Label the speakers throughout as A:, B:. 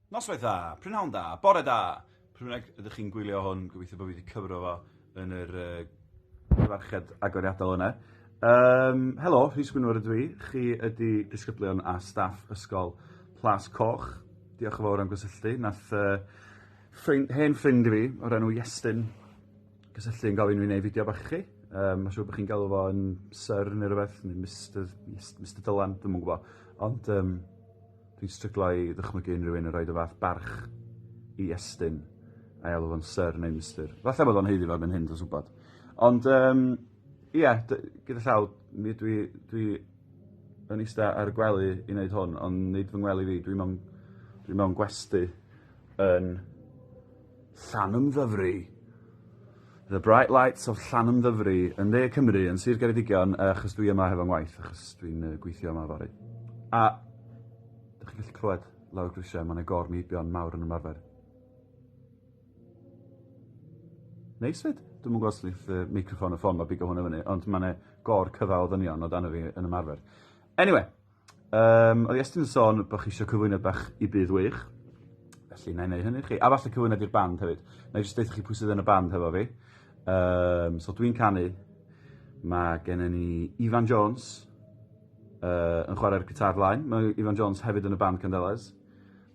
A: Noswaith dda, prynhawn da, bore da! Pryd bynnag ydych chi'n gwylio hwn, gobeithio bod fi wedi cyfro fo yn yr uh, cyfarched agoriadol yna. Um, helo, Rhys Gwynfor ydw i. Chi ydy disgyblion a staff Ysgol Plas Coch. Diolch yn fawr am gysylltu. Nath uh, ffrind, hen ffrind i fi o'r enw Iestyn gysylltu yn gofyn i fi wneud fideo bach i chi. Um, Mae'n siŵr bod chi'n galw fo yn Sir neu rhywbeth, neu Mr, Mr Dylan, dwi'n mwyn gwybod. Ond um, Dwi'n stryglo i ddychmygu unrhyw un yn rhoid y fath barch i Estyn a'i alw fo'n Syr neu Mister. Falle bod o'n haeddu fo erbyn hyn, dwi'n gwybod. Ond um, ie, yeah, gyda llaw, mi dwi, dwi yn eista ar y gwely i wneud hwn, ond nid fy ngwely fi, dwi'n mewn, dwi mewn gwesti yn Llanymddyfri. The Bright Lights of Llanymddyfri yn dde Cymru, yn Sir Geredigion, uh, achos dwi yma hefo ngwaith, achos dwi'n uh, gweithio yma fory. A, dych chi'n gallu clywed lawr grisiau, mae'n agor meibion mawr yn ymarfer. Neis fyd, dwi'n mwyn gwrs lith uh, microfon y ffôn, mae bigo hwn o fyny, ond mae'n gor cyfa o ddynion o dan y fi yn ymarfer. Anyway, Yym, oedd Iestyn yn sôn bod chi eisiau cyflwyniad bach i Byd Wych, felly na i wneud hynny chi. A falle cyflwyniad i'r band hefyd. Na i jyst deutha chi pwy sydd yn y band hefo fi. Um, so dwi'n canu, mae gen i ni Ifan Jones uh, yn chwarae'r gitar flaen. Mae Ifan Jones hefyd yn y band Candelas.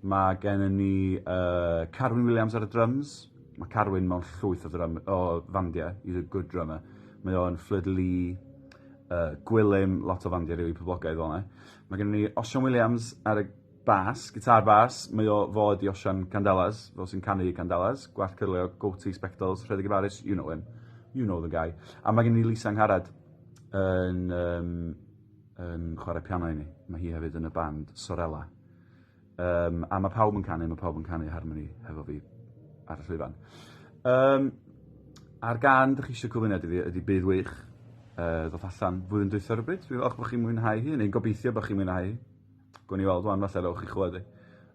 A: Mae gennym ni uh, Carwyn Williams ar y drums. Mae Carwyn mewn llwyth o, ddrum, o fandiau. He's a good drummer. Mae o'n Flood Lee, uh, Gwilym, lot o fandiau rili really poblogaidd fel yna. Mae gennym ni Osian Williams ar y bas, gitar bas. Mae o fod i Osian Candelas, fel sy'n canu Candelas. Gwallt cyrlio, goatee, spectols, rhedeg i faris, you know him. You know the guy. A mae gennym ni Lisa Ngharad yn, um, yn chwarae piano i ni. Mae hi hefyd yn y band Sorella. Um, a mae pawb yn canu, mae pawb yn canu harmony hefo fi ar y llwyfan. Um, a'r gan ydych chi eisiau cyflwyno ydy, ydy bydd wych uh, ddoth allan flwyddyn dwytha rhywbryd. Dwi'n falch bod chi'n mwynhau hi, neu'n gobeithio bod chi'n mwynhau hi. Gwyn i weld wan, falle rewch chi chlywed hi.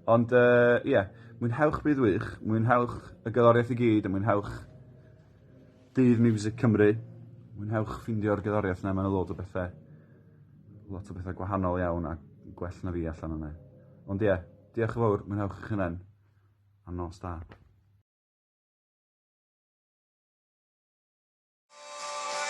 A: Ond, ie, uh, yeah, mwynhewch bydd wych, mwynhewch y gyloriaeth i gyd, a mwynhewch Dydd Miwsig Cymru. Mwynhewch ffeindio'r gerddoriaeth 'na, mae 'na lot o bethe lot o bethe gwahanol iawn a gwell na fi allan yna. Ond ie, yeah, diolch yn fawr, mwynhewch eich hunain, a nos da.